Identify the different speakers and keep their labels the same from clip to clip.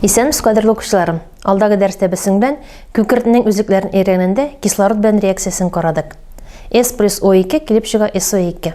Speaker 1: Исәнмез, кадерле укучыларым. Алдагы дәрестә без сеңдән күкертнең үзлекләрен өйрәнгәндә кислород белән реакциясен карадык. S плюс O2 килеп чыга SO2.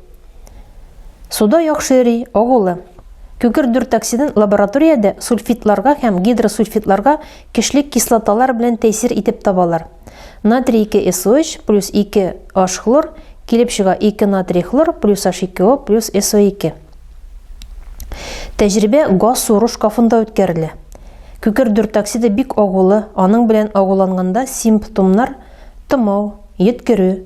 Speaker 1: Суда яхшы йөри, агулы. Күгер дуртоксидын лабораториядә сульфидларга һәм гидросульфидларга көчле кислоталар белән тәэсир итеп табалар. Натрий 2 SO3 плюс 2 H хлор килеп чыга 2 натрий хлор плюс H2O плюс SO2. Тәҗрибә газ сору шкафында үткәрелә. Күкер дуртоксиды бик агулы, аның белән агуланганда симптомнар тымау, йөткерү,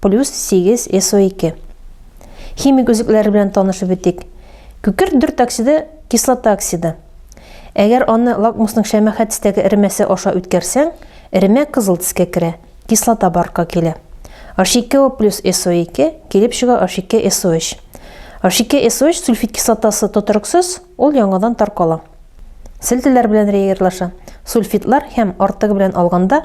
Speaker 1: Плюс 8 SO2. Химик өзекләре белән танышып үтик. Күкерт дүрт оксиды кислота оксиды. Әгәр аны лакмусның шәмәхә төстәге эремәсе аша үткәрсәң, эремә кызыл төскә керә, кислота барка килә. H2O плюс SO2 килеп чыга H2SO3. H2SO3 сульфид кислотасы тотрыксыз, ул яңадан таркала. Селтеләр белән реагирлаша. Сульфидлар һәм артыгы белән алганда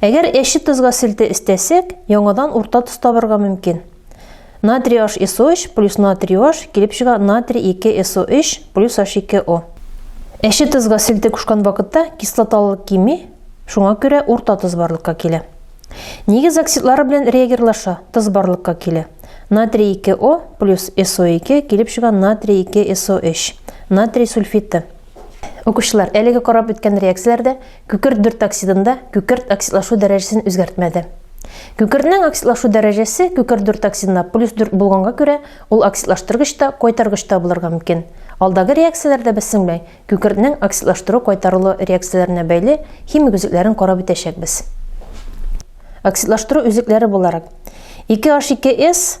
Speaker 1: Әгәр әче тозга селтә өстәсәк, яңадан урта тоз табырга мөмкин. Натрий HSO3 плюс натрий OH килеп чыга натрий 2 SO3 плюс H2O. Әче тозга селтә кушкан вакытта кислоталылык кими, шуңа күрә урта тоз барлыкка килә. Нигез оксидлары белән реагирлаша, тоз барлыкка килә. Натрий 2O плюс SO2 килеп чыга натрий 2 SO3, натрий сульфиты. Укучылар, әлеге карап үткән реакцияләрдә Күкерт дүрт оксидында күкерт оксидлашу дәрәҗәсен үзгәртмәде. Күкертнең оксидлашу дәрәҗәсе күкерт дүрт оксидында плюс дүрт булганга күрә, ул оксидлаштыргыч та, кайтаргыч та булырга мөмкин. Алдагы реакцияләрдә без сеңмәй, күкертнең оксидлаштыру-кайтарылу реакцияләренә бәйле химик өзекләрен карап үтәчәкбез. Оксидлаштыру өзекләре буларак, 2H2S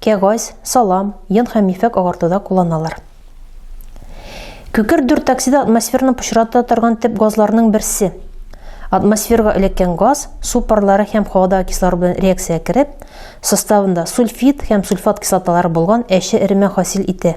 Speaker 1: Кәгазь, салам, йон һәм ефәк агартуда кулланалар. Күкер дүрт токсида атмосфераны пычрата торган төп газларның берсе. Атмосферга эләккән газ су парлары һәм һавадагы кислород белән реакциягә кереп, составында сульфид һәм сульфат кислоталары булган әче эремә хасил итә.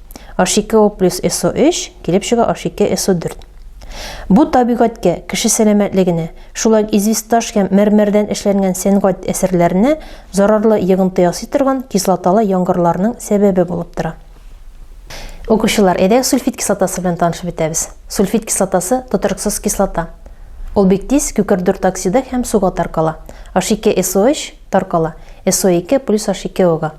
Speaker 1: H2O плюс SO3 килеп чыга H2SO4. Бу табигатькә, кеше сәламәтлегенә, шулай ук известаш һәм мәрмәрдән эшләнгән сәнгать әсәрләренә зарарлы йогынты ясый торган кислоталы яңгырларның сәбәбе булып тора. Укучылар, әйдәгез сульфид кислотасы белән танышып бетәбез. Сульфид кислотасы тотрыксыз кислота. Ул бик тиз күкердүрт оксиды һәм суга таркала. H2SO3 таркала SO2 плюс H2O-га.